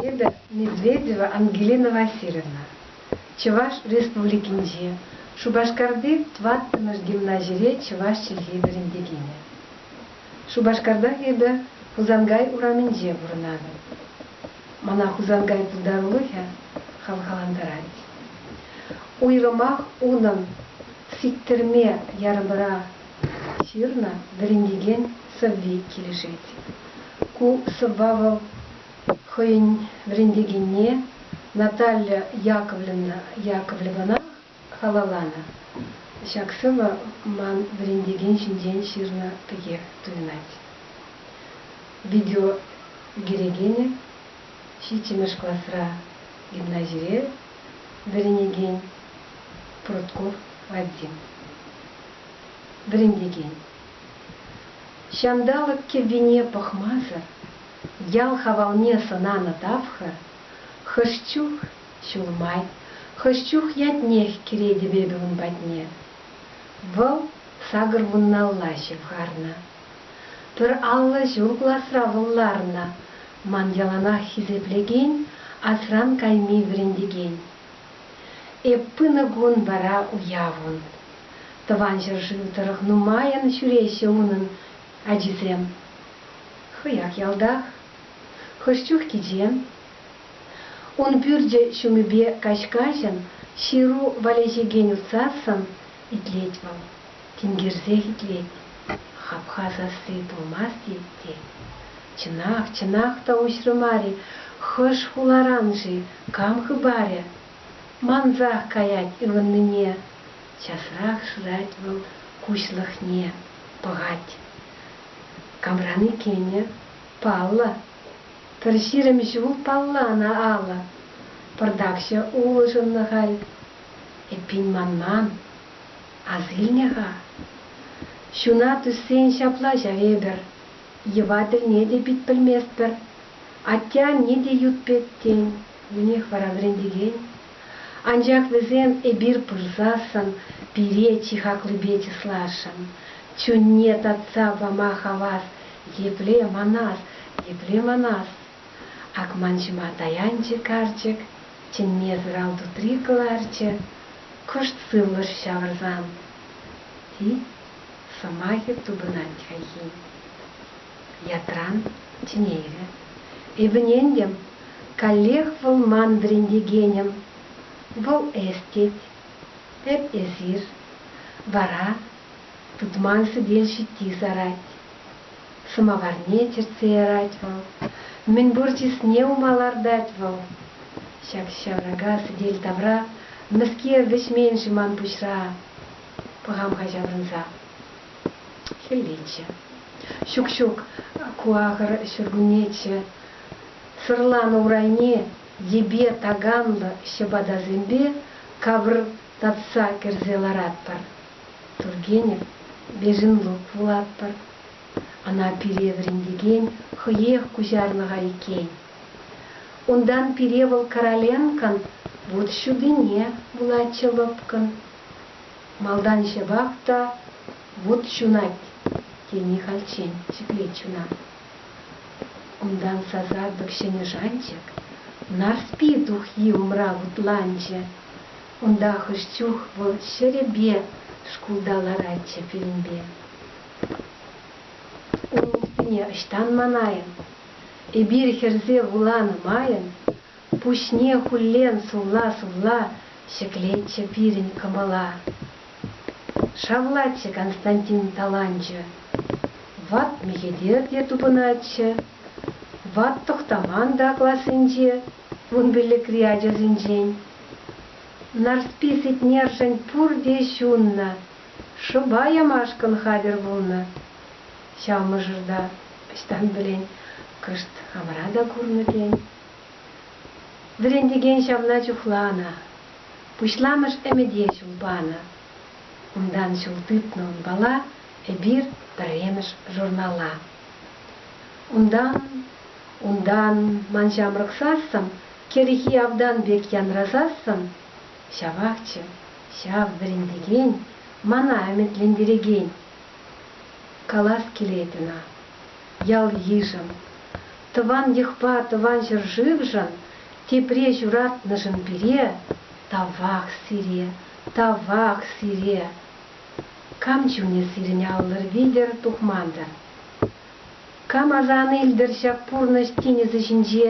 Надежда Медведева Ангелина Васильевна, Чӑваш Республикинчи Шупашкарти тӑваттӑмӗш гимназире чӑваш чӗлхи вӗрентекенӗ. Шупашкартах эпӗ Хусанкай урамӗнче пурӑнатӑп. Мана Хусанкай пултарулӑхӗ хавхалантарать. Уйрӑмах унӑн сиктерме ярӑмра ҫырнӑ вӗрентекен сӑвви килӗшет. Ку сӑвва вӑл хӑйӗн вӗрентекенне Наталья Яковлевна Яковлевӑна Халалланӑ ҫак сӑвӑ ман вӗрентекен ҫинчен ҫырнӑ пекех туйӑнать. Видео кӳрекенӗ ҫиччӗмӗш класра гимназире вӗренекен Прутков Вадим. Вӗрентекен. Ҫанталӑк кӗввине пӑхмасӑр ял хавалне сӑнанӑ тапхӑр хӑш чух Ҫул май хӑш чух ятнех кӗретӗп эпӗ ун патне. Вӑл сакӑр вунналла ҫывхарнӑ. Пӗр аллӑ ҫул класра вӑл ларнӑ, ман яланах хисеплекен, асран кайми вӗрентекен. Эп пынӑ кун вара уяв ун. Тӑван ҫӗршыв тӑрӑх нумайӑн ҫӳреҫҫӗ унӑн ачисем. Хӑях ялтах. Хӑш чух кичем, Ун пӳрчӗ ҫумӗпе каҫ-каҫӑн ҫыру валеҫекен усассӑн итлет вӑл. Тинкерсех итлет. Хапха сасси пулмасть-и, тет. Чӑнах, чӑнах та уҫрӗ мар-и, хӑш хуларан-ши, кам хыпарӗ? Мансах каять ывӑннине. Часрах шырать вӑл куҫлӑхне. Пӑхать. Камран иккенӗ? Паллӑ. Пӗр ҫирӗм ҫул палла ӑна алӑ. Пӑртакҫӑ улшӑннӑ халь. Эппин манман, асилнӗ-ха. Ҫуна тӳссен ҫапла ҫав эпӗр. Йӑва тӗлне те пит пӗлместпӗр. Атте-анне те ют пек, тен, вӗнех вара вӗрентекен. Анчах вӗсем эпир пырсассӑн пире чи хаклипе чысласшӑн. Чунне татса пама хавас Епле манар, епле манар! Акманҫӑма таянчӗ карчӑк, чӗнме сӑрал тутри кӑларчӗ, кӑшт сывлӑш ҫавӑрсан. Ти сӑмахӗ тупӑнать хайхи. Ятран чӗнейрӗ. Ывнентӗм, каллех вӑл ман вӗрентекенӗм. Вӑл эс тет. Эп эсир. Вара Тытман сӗтел ҫитти сарать. Сӑмаварне чӗртсе ярать вӑл. Мӗнпур чысне ума лартать вӑл. Ҫак ҫаврака сӗтел тавра мӗскер вӗҫмен-ши ман пуҫра? Пӑхам-ха ҫаврӑнса. Хӗллеччӗ. Ҫук, ҫук, ку ахӑр ҫуркуннеччӗ. Сӑрланӑ урайне йӗпе таканлӑ ҫӑпатасемпе капӑртатса кӗрсе ларатпӑр. Тургенев Безенрук вулатпӑр. Ӑна пире вӗрентекен хӑех куҫарлӑха иккен. Унтан пире вӑл Короленкӑн вут ҫутине вулатчӗ лӑпкӑн. Малтан ҫапах та вут ҫунать тени хальччен ҫӗклет чуна. Унтан сасартӑк ҫӗнӗ шанчӑк Нарспи тухйи умра вутланчӗ. Унта хӑш чух вӑл ҫӗрӗпе шкулта ларатчӗ фильмпе. Ун улттине ӑҫтан манайӑн? Эпир хӗрсе вуланӑ майӑн пуҫне хуллен сулла-сулла ҫӗклетчӗ пирӗн кӑмӑла. Шавлатчӗ Константин таланчӗ. Ват мехетер те тупӑнатчӗ. Ват Тӑхтаман та классенче Кун пиллӗкри ачасенчен Нарспи Сетнершӗн пурте ҫуннӑ, шӑпа ямашкӑн хатӗр пулнӑ. Ҫав мӑшӑрта ӑҫтан пӗлен, кӑшт хамӑра та курнӑ тен. Вӗрентекен ҫавна чухланӑ, пуҫламӑш ӗмӗте ҫул панӑ. Унтан ҫул тытнӑ унпала эпир пӗрремӗш журнала. Унтан Унтан ман ҫамрӑксассӑн кӗрхи автан пек янрасассӑн ҫапахчӗ ҫав вӗрентекен, мана ӗмӗтлентерекен. Калас килет ӑна, ял-йышӑм, тӑван йӑхпа тӑван ҫӗршывшӑн, тепре ҫуратнӑшӑн пире, тавах сире, тавах сире! Кам чунӗ сирӗн аллӑр витӗр тухман-тӑр? Кам аса ан илтӗр ҫак пурнӑҫ тинӗсӗ ҫинче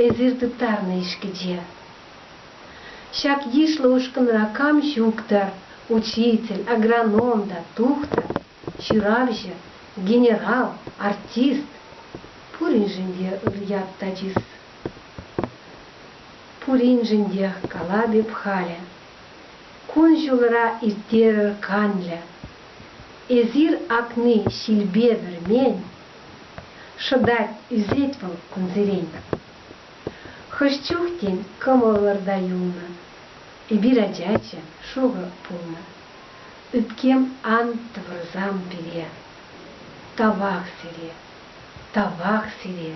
эсир тыттарнӑ ишкӗче? Ҫак йышлӑ ушкӑнра кам ҫук-тӑр, учитель, агроном та, тухтӑр, ҫыравҫӑ, генерал, артист? Пуриншӗн те ыр ят та чыс. Пуриншӗн тех калап эп халӗ. Кун-ҫулра ирттерӗр канлӗ эсир акни ҫилпе вӗрмен, шӑтать, ӳсет вӑл кунсерен. Хӑш чух, тен, кӑмӑлӑр та юлнӑ, эпир ачаччӗ, шурӑ пулнӑ. Ӳпкем ан тӑвӑрсам пире, тавах сире, тавах сире.